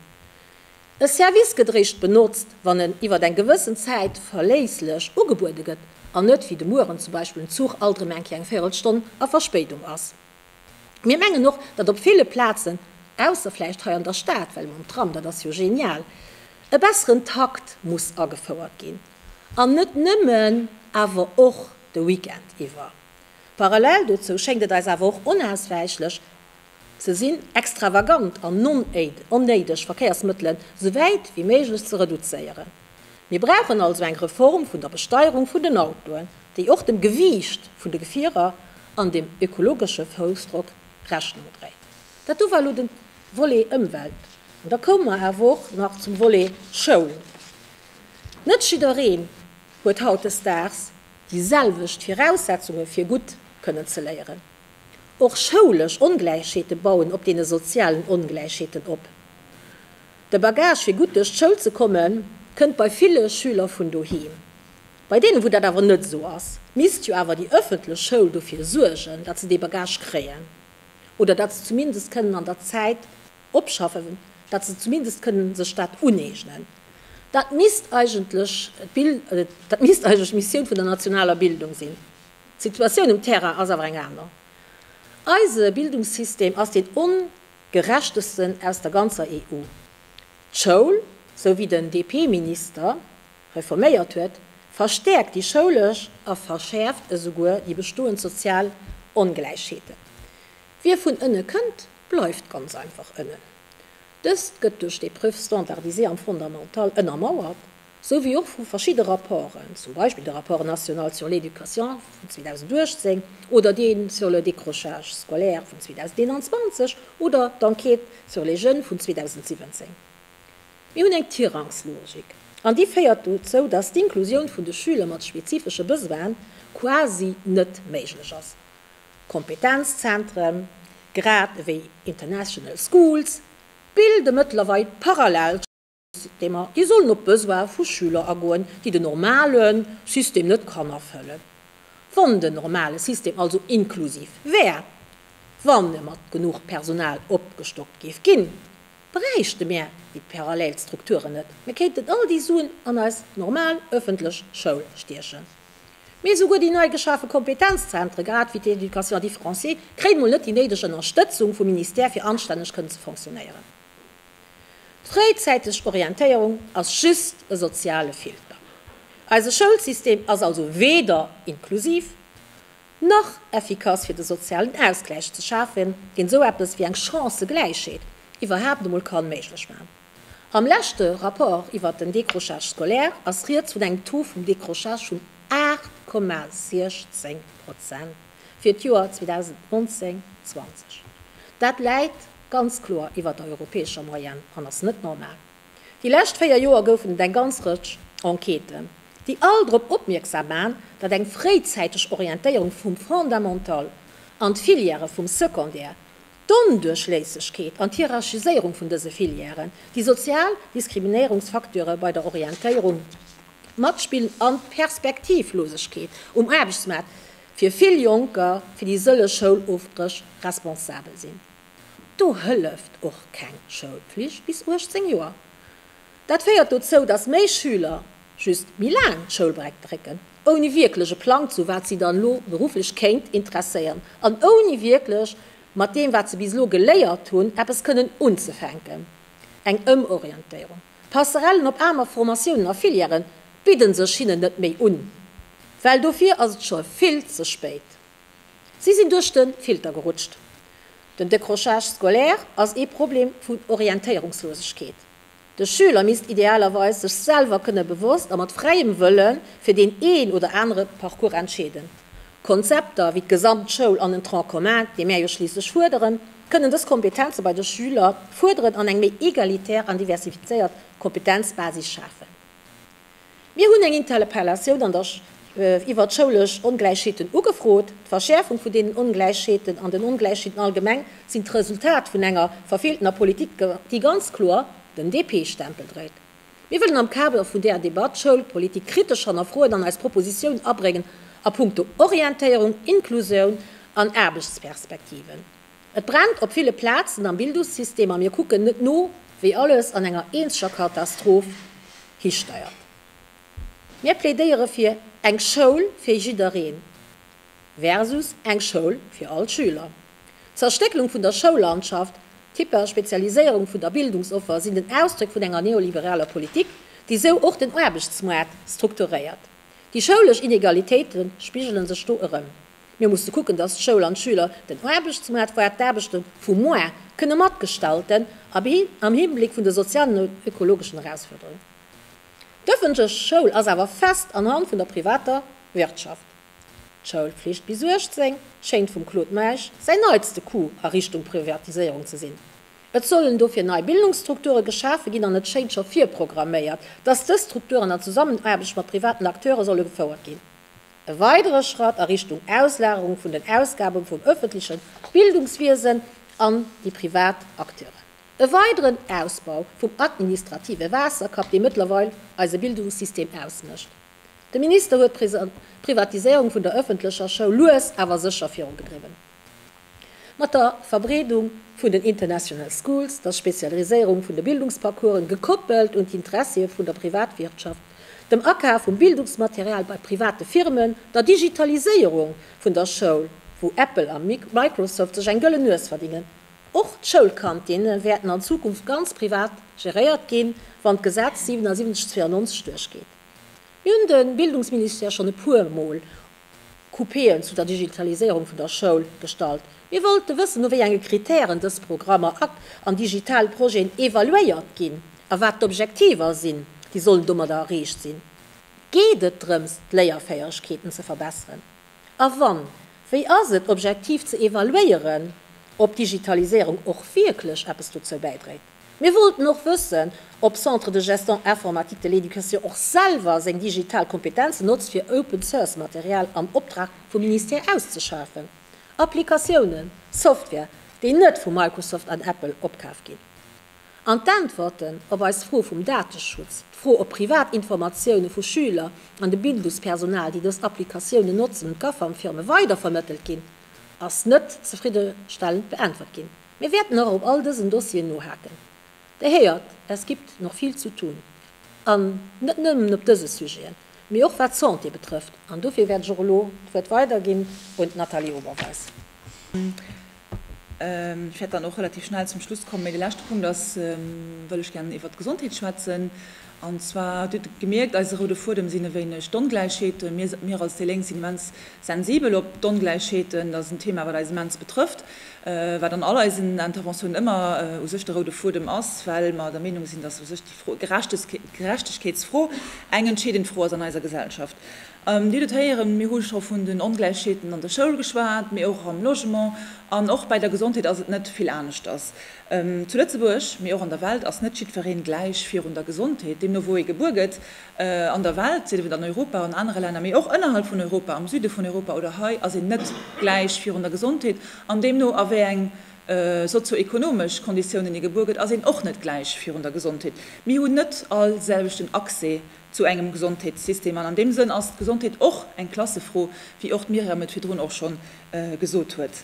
E Service gëtt eréischt benotzt, wann en iwwer eng gewëssen Zäit verléisslech ugebuede gëtt an net wéi de Mueren zum Beispill en Zuch alt erëm eng Kéier eng Véirelstonn a Verspéidung ass. Mir mengen och, datt op ville Plazen, ausser vläicht hei an der Stad, well mam Tram, dat ass jo genial, e besseren Takt muss agefouert ginn an net nëmmen, awer och de Weekend iwwer. Parallel dozou schéngt et eis awer och onauswäichlech, Ze sinn, extravagant an onnéideg Verkéiersmëttelen sou wäit wéi méiglech ze reduzéieren. Mir brauchen also eng Reform vun der Besteierung vun den Autoen, déi och dem Gewiicht vun de Gefierer an dem ökologesche Foussdrock Rechnung dréit. Dat do war elo de Volet Ëmwelt. An da koume mer awer och nach zum Volet Schoul. Net jiddereen huet hautdesdaags déi selwecht Viraussetzunge fir gutt kënnen ze léieren. Och schoulesch Ongläichheete bauen op deene sozialen Ongläichheeten op. De Bagage fir gutt duerch d'Schoul ze komme kënnt bei ville Schüler vun doheem. Bei deenen, wou dat awer net esou ass, misst jo awer déi ëffentlech Schoul dofir suergen, datt se dee Bagage kréien oder datt se zumindest kënnen an der Zäit opschaffen, datt se zumindest kënnen sech dat uneegnen. Dat misst eigentlech d'Missioun vun der nationaler Bildung sinn. D'Situatioun um Terrain ass awer eng aner. Eise Bildungssystem ass deen ongerechtesten aus der ganzer EU. D'Schoul, sou wéi den DP-Minister reforméiert huet, verstäerkt déi schoulesch a verschäerft esouguer déi bestoend sozial Ongläichheeten. Wie vun ënne kënnt, bleift ganz einfach ënnen. Dëst gëtt duerch d'Épreuve standardisée am Fondamental ënnermauert. sou wéi och vu verschidde Rapporten, zum Beispill de Rapport national sur l'éducation vun 2018 oder dee sur le décrochage scolaire vun 2021 oder d'Enquête sur les jeunes vun 2017. Mir hunn eng Tirangslogik, an déi féiert dozou, dass d'Inklusioun vun de Schüler mat spezifesche Besoine quasi net méiglech ass. Kompetenzzentren, grad ewéi international schools, bilde mëttlerweil parallel. déi mer, déi sollen op d'Besoin vu Schüler agoen, déi den normale System net kann erfëllen. Wann den normale System also inklusiv wär, wann e mat genuch Personal opgestockt géif ginn, bräichte mär déi parallel Strukturen net. Mir kéinten all déi Suen an eis normal ëffentlech Schoul stiechen. Mee esouguer déi nei geschafe Kompetenzzentre, grad wéi d'Éducation différenciée, kréien emol net déi néideg Ënnerstëtzung vum Ministère, fir anstänneg kënnen ze fonctionnéieren. D'fréizäiteg Orientéierung ass just e soziale Filter. Eise Schoulsystem ass also weder inklusiv nach effikass fir de sozialen Ausgläich ze schafen, deen esou eppes wéi eng Chancëgläichheet iwwerhaapt emol ka méiglech maachen. Am leschte Rapport iwwert den Décrochage scolaire ass rieds vun engem Taux vum Décrochage vun 8,16 Prozent. fir d'Joer 2019, 20. Dat läit ganz kloer iwwer der europäescher Moyenne an ass net normal. Déi lescht véier Joer goufen et eng ganz Rëtsch Enquêten, déi all drop opmierksam man, datt eng fréizäiteg Orientéierung vum Fondamental an d'Filièrë vum Secondaire D'Onduerchléissegkeet an d'Hierarchiséierung vun dëse Filièren, déi sozial Diskriminéierungsfacteure bei der Orientéierung, d'Matspill an d'Perspektivlosegkeet um Aarbechtsmaart fir vill Jonker fir déi sëlleg Schoulofbréch responsabel sinn. Do hëlleft och keng Schoulflicht bis 18 Joer. Dat féiert dozou, dass méi Schüler just méi laang d'Schoulbreck drécken, ouni wierklech e Plang zu wat si dann elo berufflech kéint interesséieren an ouni wierklech mat deem wat se bis elo geléiert hunn eppes kënnen unzefänken. Eng Ëmorientéierung, Passerellen op aner Formatiounen a Filièren bidden sech hinnen net méi un, well dofir ass et scho vill ze spéit. Si sinn duerch de Filter gerutscht. Den Décrochage scolaire ass ee Problem vun Orientéierungslosegkeet. De Schüler misst idealerweis sech selwer kënne bewosst a mat fräiem Wëlle fir deen een oder anere Parcours entscheeden. Konzepter wéi d'Gesamtschoul an den Tronc commun, dee mär jo schliisslech fuerderen, kënnen dës Kompetenze bei de Schüler fuerderen an eng méi egalitär an diversifizéiert Kompetenzbasis schafen. Mir hunn eng Interpellatioun an der iwwert d'schoulesch Ongläichheeten ugefrot. D'Verschäerfung vun deenen Ongläichheeten an den Ongläichheeten allgemeng sinn d'Resultat vun enger verfeeltener Politik, déi ganz kloer den DP-Stempel dréit. Mir wëllen am Kader vun där Debatt d'Schoulpolitik kritesch hannerfroen an eis Propositioun abréngen a punkto Orientéierung, Inklusioun an Aarbechtsperspektiven. Et brennt op ville Plazen am Bildungssystem a mir kucken net no, wéi alles an enger eenzeger Katastroph histeiert. Mir plädéiere fir eng Schoul fir jiddereen versus eng Schoul fir all d'Schüler. D'Zerstécklung vun der Schoullandschaft, d'Hyperspezialiséierung vun der Bildungsoffer sinn den Ausdréck vun enger neoliberaler Politik, déi esou och den Aarbechtsmoart strukturéiert. Déi schoulesch Inegalitéite spigele sech do erëm. Mir musse kucken, dass d'Schoul an d'Schüler den Aarbechtsmaart, voire d'Aarbechte vu moar, kënne matgestalten, abhi am Hinblick vun de sozialen an ökologeschen Erausfuerderungen. D'öffentlech Schoul ass awer fest an Hand vun der privater Wirtschaft. D'Schoulpflicht bis 18 schéngt vum Claude Meisch säin neitste Coup a Richtung Privatiséierung ze sinn. Et sollen dofir nei Bildungsstrukture geschafe ginn an et schéint scho virprogramméiert, dass dës Strukturen an Zusammenaarbecht mat privaten Acteure solle gefouert ginn. E weidere Schratt a Richtung Auslagerung vun den Ausgabe vum ëffentleche Bildungswiesen an déi privat Acteuren. E weideren Ausbau vum administrative Waasserkapp, dee mëttlerweil eise Bildungssystem ausmécht. De Minister huet d'Privatiséierung vun der ëffentlecher Schoul lues awer sécher virugedriwwen. Mat der Verbreedung vun den International Schools, der Spezialiséierung vun de Bildungsparcoursen, gekoppelt un d'Interessie vun der Privatwirtschaft, dem Akaf vum Bildungsmaterial bei private Firmen, der Digitaliséierung vun der Schoul, wou Apple a Microsoft sech eng gëllen Nues verdingen. Och d'Schoulkantinne wäerten an Zukunft ganz privat geréiert ginn, wann d'Gesetz 77 92 duerchgeet. Mir hunn de Bildungsministère schonn e puermol Coupéen zu der Digitaliséierung vun der Schoul gestallt. Mir wollte wëssen, no wéi enge Kritären dës Programmer an digital Projeten evaluéiert ginn a wat d'Objektiver sinn, déi sollen domadder erreecht sinn. Geet et drëms, d'Léierfäegkeeten ze verbesseren? A wann, wéi ass et objektiv ze evaluéieren, ob d'Digitaliséierung och wierklech eppes dozou bäidréit? Mir wollten och wëssen, ob Centre de Geston Informatique de l'Education och selwer seng digital Kompetenzen notzt fir Open Source Material am Optrag vum Ministère auszeschafen, Applikatiounen, Software, déi net vu Microsoft an Apple opkaf ginn. An d'Äntwerten op eis Fro vum Dateschutz, d'Fro op privat Informatiounen vu Schüler an de Bildungspersonal, déi dës Applikatiounen notzen, un d'Gafam-Firme weidervermëttelt ginn, ass net zefriddestellend beäntwert ginn. Mir wäerten och op all dësen Dossieren nohaken. Der héiert, es gibt noch viel zu tun. An net nëmmen op dëse Sujeten, mee och wat d'Santé betrëfft. An dofir wäert ech och elo d'Wuert weiderginn un d'Nathalie Oberweis. Ech wäert dann och relativ schnell zum Schluss kommen. Mee de leschte Punkt ass, wëll ech gären iwwert d'Gesondheet schwätzen. An zwar, Dir hutt et gemierkt, eise roude Fuedem sinn e wéineg d'Ongläichheeten. Mir, mir als déi Lénk sinn immens sensibel op d'Ongläichheeten. Dat ass en Thema, wat eis immens betrëfft, wat an all eisen Interventiounen ëmmer u sech de roude Fuedem ass, well mer der Meenung sinn, dass u sech déi Fro, Gerechtegkeetsfro eng entscheedend Fro ass an eiser Gesellschaft. Dir hutt et héieren, mir hu scho vun den Ongläichheeten an der Schoul geschwat, mee och am Logement an och bei der Gesondheet ass et net vill aneschters. Zu Lëtzebuerg, mee och an der Welt, ass net jiddweree gläich virun der Gesondheet. Deemno wou ee gebuer gëtt, an der Welt, sief et an Europa, an anere Länner, mee och ënnerhalb vun Europa, am Süde vun Europa oder hei, ass een net gläich virun der Gesondheet. An deemno a wéi eng sozio-ekonomesch Konditiounen ee gebuer gëtt, ass een och net gläich virun der Gesondheet. Mir hunn net all selwechten Accès zu engem Gesondheetssystem. An an deem Sënn ass d'Gesondheet och eng Klassefro, wéi och d'Myriam et virdrun och schonn gesot huet.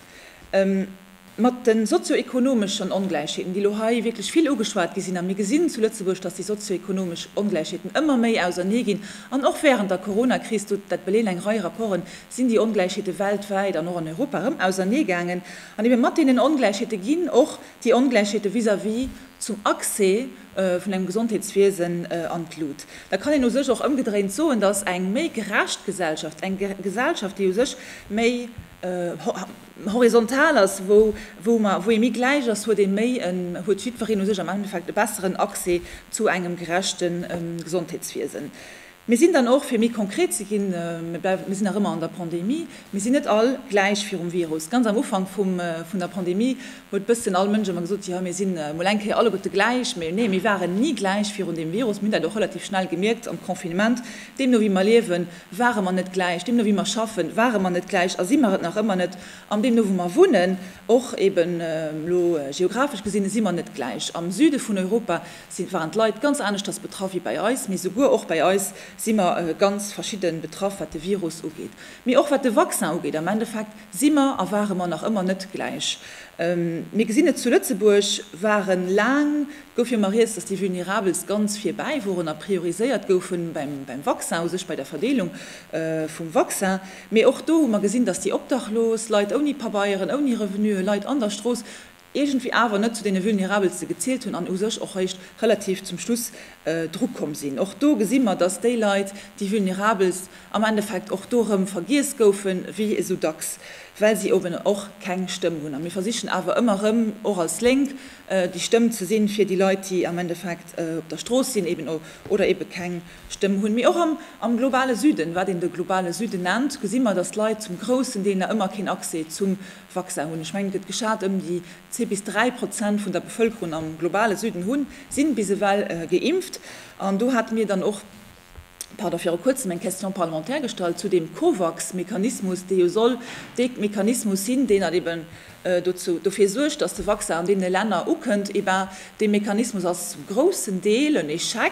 Mat de sozio-ekonomeschen Ongläichheeten, déi elo hei wierklech vill ugeschwat gi sinn, a mir gesinn zu Lëtzebuerg, datt déi sozio-ekonomesch Ongläichheeten ëmmer méi ausernee ginn, an och wärend der Corona-Kris, dat beleeën eng Rei Rapporten, sinn déi Ongläichheete weltwäit an och an Europa erëm ausernee gaangen. An ebe mat deenen Ongläichheete ginn och déi Ongläichheete vis-à-vis zum Accès vun engem Gesondheetswiesen an d'Lut, da kann een u sech och ëmgedréint soen, datt eng méi gerecht Gesellschaft, eng Gesellschaft, déi u sech méi horizontal ass, wou ee méi gläich ass, huet ee méi, huet jiddwereen u sech am Endeffekt e besseren Accès zu engem gerechte Gesondheetswiesen. Mir sinn dann och, fir méi konkret ze ginn, mir sinn nach ëmmer an der Pandemie, mir sinn net all gläich virum Virus. Ganz am Ufank vun der Pandemie huet bëssen all Mënsch ëmmer gesot, jo mir si mol eng Kéier alleguerte gläich. Mee nee, mir waren ni gläich virun deem Virus. Mir hunn dat och relativ schnell gemierkt am Confinement. Deemno wéi mer liewen, ware mer net gläich. Deemno wéi mer schaffen, ware mer net gläich a si mer et nach ëmmer net. An deemno wou mer wunnen, och eeben elo geographesch gesinn, si mer net gläich. Am Süde vun Europa si waren d'Leit ganz aneschters betraff wéi bei eis, mee souguer och bei eis si mer ganz verschidde betraff, wat de Virus ugeet, mee och wat de Vaccin ugeet. Am Endeffekt si mer a ware mer nach ëmmer net gläich. Mir gesinn et, zu Lëtzebuerg ware laang, gouf jo emmer rieds, datt déi Vulnerabelst ganz virbäi woren a prioriséiert goufen beim Vaccin u sech, bei der Verdeelung vum Vaccin, mee och do hu mer gesinn, datt déi Obdachlos, Leit ouni Pabeieren, ouni Revenuen, Leit an der Strooss, iergendwéi awer net zu deene Vulnerabelste gezielt hunn an u sech och réischt relativ zum Schluss dru komm sinn. Och do gesi mer, dass déi Leit, déi Vulnerabelst, am Endeffekt och do erëm vergiess goufen, wéi esou dacks, well si eben och keng Stëmm hunn. A mir versichen awer ëmmer erëm, och als Lénk, déi Stëmm ze sinn fir déi Leit, déi am Endeffekt op der Strooss sinn eben oder eben keng Stëmm hunn. Mee och am globale Süden, wat een de globale Süden nennt, gesi mer, dass d'Leit zum groussen Deel nach ëmmer keen Accès zum Vaccin hunn. Ech mengen, et gëtt geschat ëm déi zwee bis dräi Prozent vun der Bevëlkerung am globale Süden hunn, sinn bis ewell geimpft. An do hate mir dann och, pardon, viru kuerzem eng Question parlementaire gestallt zu deem COVAX-Mechanismus, dee jo soll dee Mechanismus sinn, deen dann eben dozou, dofir suergt, datt de Vaccin an deene Länner ukënnt. Eh ben, dee Mechanismus ass zum groussen Deel en Echec.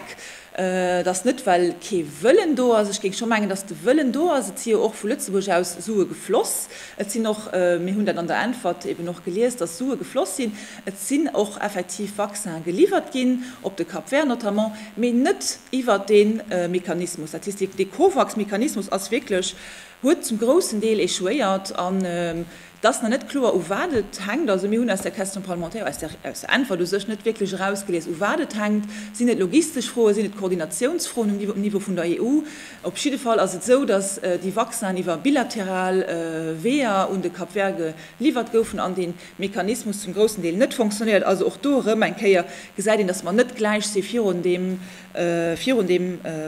Et ass net, well kee Wëllen do ass. Ech géing scho mengen, datt de Wëllen do ass. Et si jo och vu Lëtzebuerg aus Sue gefloss. Et sinn och, mir hunn dat an der Äntwert eben och gelies, datt Sue gefloss sinn. Et sinn och effektiv Vaccine geliwwert ginn, op de Cap Vert notamment, mee net iwwert dee Mechanismus. Dat heesst, dee Covax-Mechanismus ass wierklech, huet zum groussen Deel échouéiert. An Et ass nach net kloer, u wat et hänkt. Also mir hunn aus der Question parlementaire, aus der Äntwert u sech, net wierklech erausgelies, u wat et hänkt. Sinn et logistesch Froen? Sinn et Koordinatiounsfroen um Niveau vun der EU? Op jidde Fall ass et esou, datt déi Vaccinen iwwer bilateral Weeër un de Cap Vert geliwwert goufen an dee Mechanismus zum groussen Deel net fonctionéiert. Also och do erëm eng Kéier gesäit een, datt mer net gläich si virun deem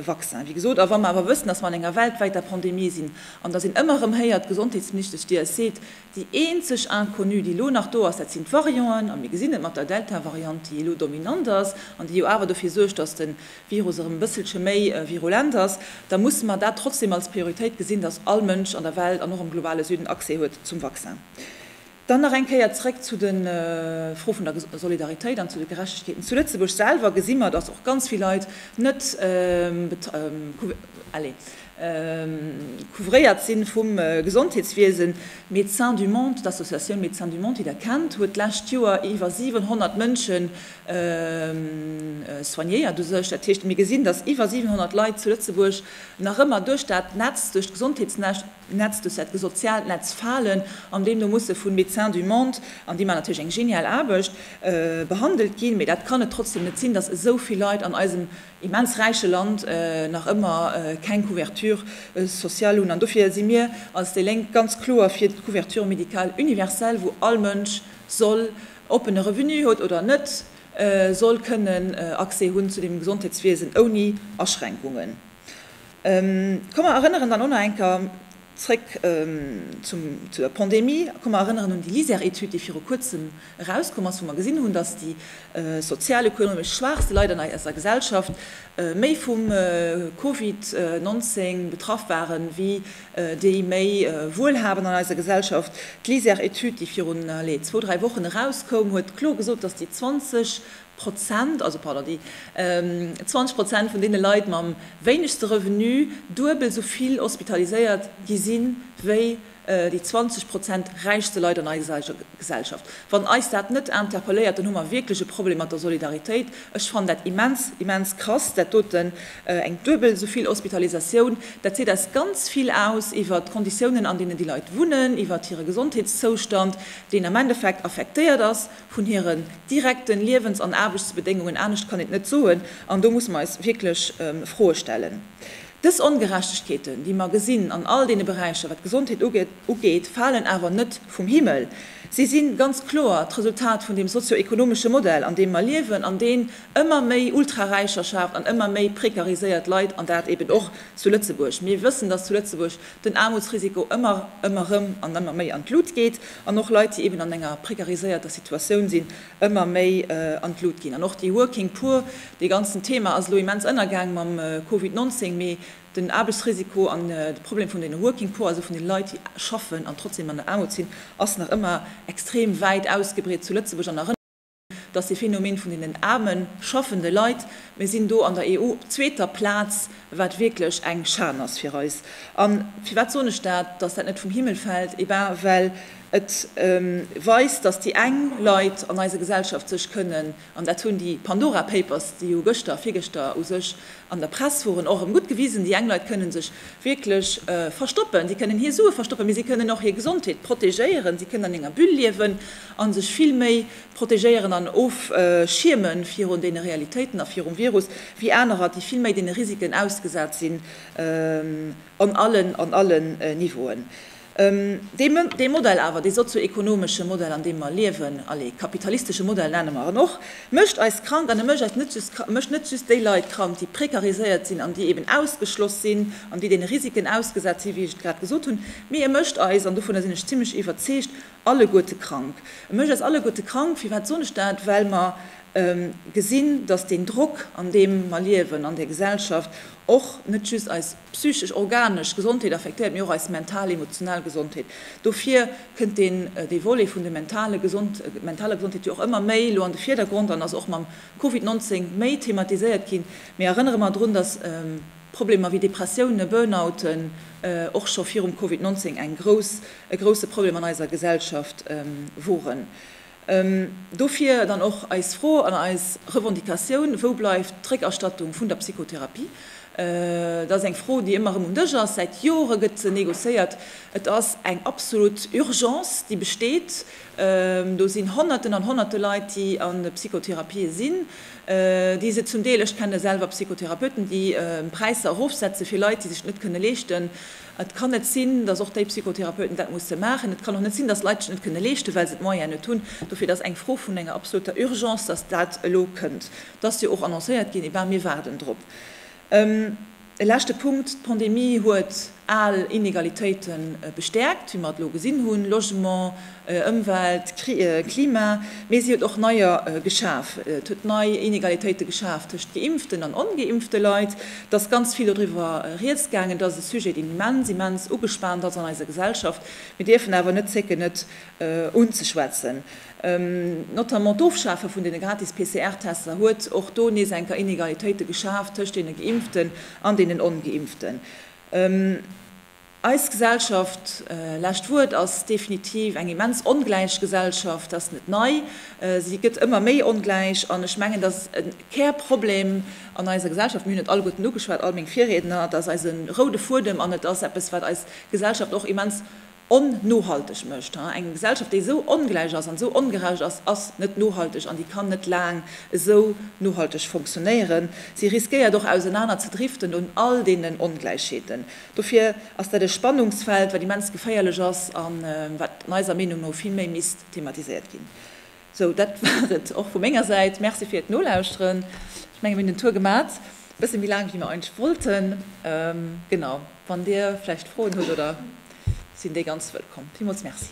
Vaccin, wéi gesot. A wa mer awer wëssen, datt mer an enger weltwäiter Pandemie sinn, An datt een ëmmer erëm héiert, d'Gesondheetsministesch Dir, es seet, déi eenzeg Inconnue, déi elo nach do ass, dat sinn d'Varianten. A mir gesinn et mat der Delta-Variant, déi elo dominant ass an déi jo awer dofir suergt, datt de Virus erëm e bësselche méi virulent ass. Da musse mer dat trotzdem als Prioritéit gesinn, datt all Mënsch an der Welt an och am globale Süden Accès huet zum Vaccin. Dann nach eng Kéier zréck zu de Froe vun der Solidaritéit an zu de Gerechtegkeeten. Zu Lëtzebuerg selwer gesi mer, dass och ganz vill Leit net couvréiert si vum Gesondheetswiesen. Médecins du Monde, d'Associatioun Médecins du Monde, déi Der kennt, huet d'lescht Joer iwwer 700 Mënsche soignéiert u sech. Dat heescht, mir gesinn, dass iwwer 700 Leit zu Lëtzebuerg nach ëmmer duerch dat Netz, duerch d'Gesondheetsnetz, Netz, duerch dat soziaalt Netz falen, an deemno musse vu Médecins du Monde, an déi maachen natierlech eng genial Aarbecht, behandelt ginn. Mee dat kann et trotzdem net sinn, datt esou vill Leit an eisem immens räiche Land nach ëmmer keng Couverture sociale hunn. An dofir si mir als déi Lénk ganz kloer fir d'Couverture médicale universelle, wou all Mënsch soll, ob en e Revenu huet oder net, soll kënnen Accès hunn zu deem Gesondheetswiesen ouni Aschränkungen. Komm mer erënneren dann och nach eng Kéier zréck zu der Pandemie. Komm mer erënneren un déi LISER-Etüd, déi viru Kuerzem erauskomm ass, wou mer gesinn hunn, dass déi sozialökonomesch schwaachste Leit an eiser Gesellschaft méi vum Covid 19 betraff waren, wéi déi méi Wuelhabend an eiser Gesellschaft. D'LISER-Etüd, déi virun, allez, zwou, dräi Wochen erauskoum, huet kloer gesot, dass déi 20 Prozent, also pardon, déi 20 Prozent vun deene Leit mam wéinegste Revenu duebel esou vill hospitaliséiert gi sinn, wéi déi 20 Prozent räichste Leit an eiser Gesellschaft. Wann eis dat net interpelléiert, dann hu mer wierklech e Problem mat der Solidaritéit. Ech fannen dat immens, immens krass, dat doten, eng duebel esou vill Hospitalisatioun. Dat seet eis ganz vill aus iwwert d'Konditiounen, an deenen déi Leit wunnen, iwwert hire Gesondheetszoustand, deen am Endeffekt affektéiert ass, vun hiren direkten Liewens an Aarbechtsbedéngungen, anescht kann een et net soen, an do musse mer eis wierklech Froe stellen. Dës Ongerechtegkeeten, déi mer gesinn an all deene Beräicher, wat d'Gesondheet ugeet, falen awer net vum Himmel. Si si ganz kloer d'Resultat vun deem sozio-ekonomesche Modell, an deem mer liewen an deen ëmmer méi Ultraräicher schaaft an ëmmer méi prekariséiert Leit, an dat eben och zu Lëtzebuerg. Mir wëssen, dass zu Lëtzebuerg den Aarmutsrisiko ëmmer, ëmmer erëm an ëmmer méi an d'Lut geet an och Leit, déi eben an enger prekariséierter Situatioun sinn, ëmmer méi an d'Lut ginn. An och déi Working Poor, dee ganzen Thema ass elo immens ënnergaang mam Covid 19, mee den Aarbechtsrisiko an de Problem vun deene Working Poor, also vun den Leit, déi schaffen an trotzdem an der Aarmut sinn, ass nach ëmmer extrem wäit ausgebreet zu Lëtzebuerg an nach. dass dee Phänomen vun deenen aarme schaffende Leit, mir sinn do an der EU op zweeter Plaz, wat wierklech eng Schan ass fir eis. A firwat soen ech dat, dass dat net vum Himmel fält? Et ben well et weist, dass déi eng Leit an eiser Gesellschaft sech kënnen, an dat hunn déi Pandora Papers, déi jo gëschter, virgëschter u sech, An der Press woren och erem gudd gewisen, déi eng Leit kënnen sech wierklech verstoppen, si kënnen hir Suen verstoppen, mee si kënnen och hir Gesondheet protegéieren, si kënnen an enger Bulle liewen an sech vill méi protegéieren an ofschiermen virun deene Realitéiten a virum Virus wéi anerer, déi vill méi deene Risiken ausgesat sinn an allen, an allen Niveauen. Dee Modell awer, dee sozio-ekonomesche Modell an deem mer liewen, allez, kapitalistesche Modell nenne mer en och, mécht eis krank an e mécht eis net just krank, e mécht net just déi Leit krank, déi prekariséiert sinn an déi eben ausgeschloss sinn an déi deene Risiken ausgesat sinn, wéi ech et grad gesot hunn, mee e mécht eis, an dovunner sinn ech zimlech iwwerzeegt, alleguerte krank. E mécht eis alleguerte krank. Firwat soen ech dat? Well mer gesinn, datt deen Drock an deem mer liewen an där Gesellschaft och net just eis, Psychesch, organesch Gesondheet affektéiert, mee och eis mental, emotional Gesondheet. Dofir kënnt deen, dee Volet vun de mentale Gesond, mentaler Gesondheet jo och ëmmer méi elo an de Virdergrond an ass och mam Covid 19 méi thematiséiert ginn. Mee erënnere mer drun, dass Problemer wéi Depressiounen, Burnouten och scho virum Covid 19 eng grouss, e grousse Problem an eiser Gesellschaft woren. Dofir dann och eis Fro an eis Revendicatioun, Wou bleift d'Réckerstattung vun der Psychotherapie? Dat ass eng Fro, déi ëmmer erëm um Dësch ass. Säit Jore gëtt se negociéiert. Et ass eng absolut Urgence, déi besteet. Do sinn Honnerten an Honnerte Leit, déi a Psychotherapië sinn, déi se zum Deel, ech kenne selwer Psychotherapeuten, déi Präisser erofsetze fir Leit, déi sech dat net kënne leeschten, Et kann net sinn, dass och déi Psychotherapeuten dat musse maachen. Et kann och net sinn, dass Leit sech net kënne leeschten, well se d'Moyene net hunn. Dofir, et ass eng Fro vun enger absoluter Urgence, dass dat elo kënnt. Et ass jo och annoncéiert ginn. Et war, mir waarden drop. E leschte Punkt, D'Pandemie huet al Inegalitéite bestäerkt, wéi mer et elo gesinn hunn, Logement, Ëmwelt, Klima, mee si huet och neier geschaf. Et huet nei Inegalitéite geschaf tëscht geimpften an ongeimpfte Leit. Et ass ganz vill doriwwer Rieds gaangen. Et ass e Sujet, deen immens, immens ugespaant ass an eiser Gesellschaft. Mir dierfen awer net zécken, et unzeschwätzen. Notamment d'Ofschafe vun deene gratis PCR-Tester huet och do nees eng Kéier Inegalitéite geschaf tëscht deene Geimpften an deenen Ongeimpften. Eis Gesellschaft, lescht Wuert, ass definitiv eng immens ongläich Gesellschaft. Dat ass net nei. Si gëtt ëmmer méi ongläich. An ech mengen, dass e Kärproblem an eiser Gesellschaft, mir hunn et alleguerten ugeschwat, all meng Virriedner, dass eise roude Fuedem, an et ass eppes, wat eis Gesellschaft och immens onnohalteg mécht, eng Gesellschaft, déi esou ongläich ass an esou ongerecht ass, ass net nohalteg an déi kann net laang esou nohalteg fonctionnéieren. Si riskéiert och ausenaner ze driften un all deenen Ongläichheeten. Dofir ass dat e Spannungsfeld, wat immens geféierlech ass a wat eiser Meenung no vill méi misst thematiséiert ginn. Sou, dat war et och vu menger Säit. Merci fir d'Nolauschteren. Ech menge mir hunn den Tour gemat, e bësse méi laang wéi mir eigentlech wollten. Genau, wann Dir vläicht Froen hutt oder sinn déi ganz wëllkomm. Villmools Merci.